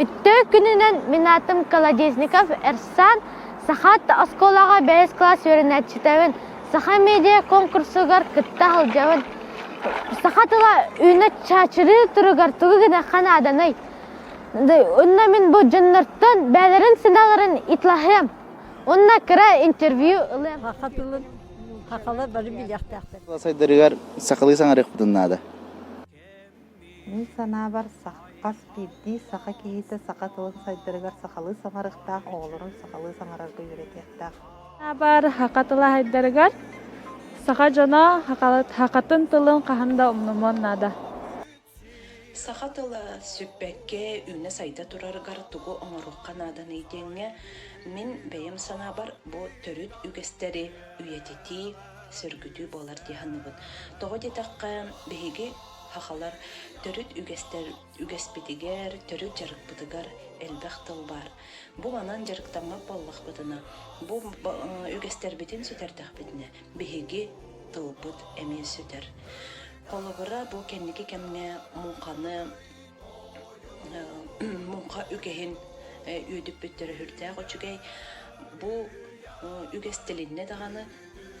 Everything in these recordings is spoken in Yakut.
Үттөөх күнүнэн мин атым Колодезников Эрсан Сахат оскуолаҕа бэс класс үөрэнээччитэбин Саха медиа конкурсугар кытта сылдьабын. Саха тыла үйүнэ чачырыы туругар тугу гына ханааданый? Онно мин бу дьоннортон бэйэлэрин сыналарын итлаһыам. Онна кыра интервью ылыам. Хаха тылын хахалар бары билиэхтээхтэр. Сайдарыгар сахалыы саҥарыахпытын наада. Мин санаабар, хас биирдии саха киһитэ саха тылын сайдарыгар сахалыы саҥарыахтаах, оҕолорун сахалыы саҥарарга үөрэтиэхтээх. Санаабар, хаха тыла сайдарыгар саха дьоно хахатын тылын хаһан да умнумуон наада. Саха тыла сүппэккэ, үүнэ-сайда турарыгар тугу оҥоруохха нааданый диэҥҥэ мин бэйэм санаабар бу төрүт үгэстэри үйэтитии, сөргүтүү буолар дии саныыбын. Тоҕо диэтэххэ, биһиги сахалар төрүт үгэстэр үгэспитигэр, төрүт дьарыкпытыгар элбэх тыл баар. Бу манан дьарыктаммат буоллахпытына, бу үгэстэрбитин сүтэрдэхпитинэ биһиги тылбыт эмиэ сүтэр. Холобура, бу кэнники кэмҥэ муҥханы муҥха үгэһин үүтүппүт төрөһүрдээх үчүгэй. Бу үгэс тилиннэ даҕаны,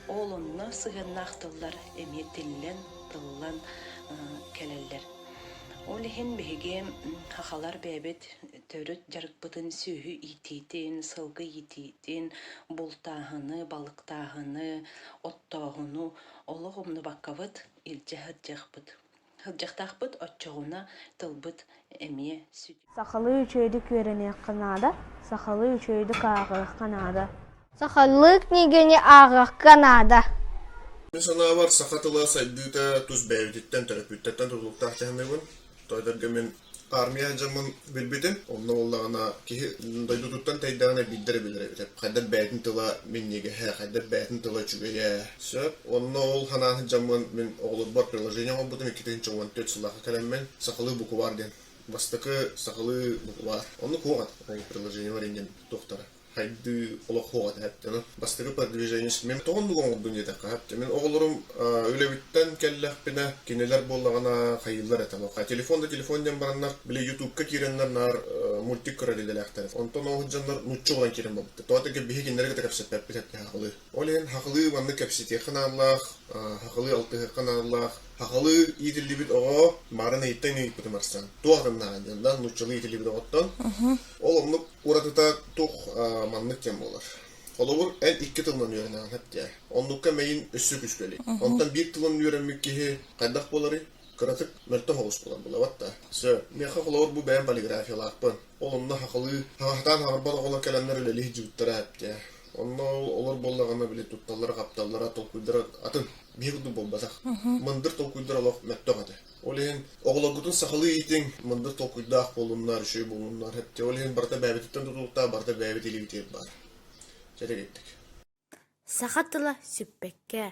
ол онно сыһыаннаах тыллар эмиэ тиллэн, тыллан кэлэллэр. Ол иһин биһиги хахалар бэйэбит төрүт дьарыкпытын сүөһү иитиитин, сылгы иитиитин, бултааһыны, балыктааһыны, оттооһуну олох умнубаккабыт илдьэ сылдьыахпыт. Сылдьахтаахпыт оччоҕуна тылбыт эмиэ сүтэ. Сахалыы үчүгэйдик үөрэниэххэ наада, сахалыы үчүгэйдик ааҕыахха наада. Сахалыы книганы ааҕыахха наада. Мин санаабар, саха тыла сайдыыта тус бэйэбититтэн, төрөппүттэттэн тутулуктаах дьаһаныыбын. Тоойдорго мин Аармыйа дьоммун билбитим. Онно буоллаҕына киһи дойдутуттан тэйдэҕинэ биирдэ эрэ билэрэ эбитэ. Хайдах бэйэтин тыла минньигэһэ, хайдах бэйэтин тыла үчүгэйэ. Сөп. Онно ол санааһыт дьоммун мин оҕолорбор приложение оҥорбутум. Иккитин икки уон төрт сыллаахха кэлэммин сахалыы букваар диэн. Бастакы сахалыы букваар. Онно куоҕат ол приложениебар иннин туохтара. сайдыы олохуоҕа тэһэттэнэн бастакы продвижение симиэм тоҕо оннук оҥордум диэтэххэ сөп мин оҕолорум үлэбиттэн кэллэхпинэ кинилэр буоллаҕына хайыылар этэ лоха телефон да телефон диэн бараннар били ютубка киирэннэр наар мультик көрөр идэлээхтэр онтон ол дьоннор нуччу ылан киирэн барбыттар тоҕо этэргэ биһиги кинилэри кытта кэпсэппэппит эттэ хахылыы ол иһин хахылыы маннык кэпсэтиэххэ нааллаах хахылыы алтыһыахха нааллаах хахылыы иитиллибит оҕо барын ыйыттан ыйыппытым арсан туох гыннаҕын диэн да нууччалыы иитиллибит оҕоттон ол оннук Уратыта туох маннык кэм буолар. Холобур, эн икки тылынан үөрэнэҕин хэптээ. Оннукка мэйин өссө күүскэ илик. Онтон биир тылын үөрэммит киһи хайдах буоларый? Кыратык мөлтөх оҕус буолан булабат да. Сөп. Миэхэ холобур бу бэйэм полиграфиялаахпын. Ол онно хахылыы, хаҥахтаан хаҥарбат оҕолор кэлэннэр үлэлии сдьыбыттара хэптээ. Онно олор буоллаҕына били тутталлара-хапталлара толкуйдара атын. Биһи курдук буолбатах. Мындыр толкуйдар олох мөлтөх этэ. Ол иһин оҕолоргутун сахалыы иитиҥ, мындыр толкуйдаах буолуннар, үчүгэй буолуннар. Хэ, ол иһин барыта бэйэбититтэн тутулуктаах, барыта бэйэбит илиибитигэр баар. Дьэрэгэйдик. Саха тыла сүппэккэ,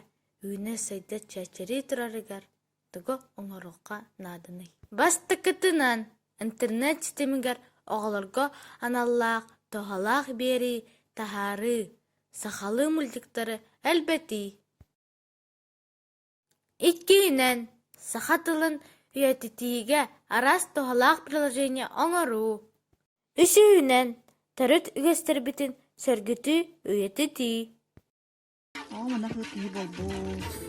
үүнэ-сайда чэчирии турарыгар тугу оҥоруохха нааданый? Бастакытынан, интернет ситимигэр оҕолорго аналлаах туһалаах биэрии, таһаарыы, сахалыы мультиктары элбэтии. Иккиһинэн, саха тылын үйэтитиигэ араас туһалаах приложение оҥоруу. Үсүһүнэн, төрүт үгэстэрбитин сөргүтүү, үйэтитии. Оо, манах ыт киһи буолбут.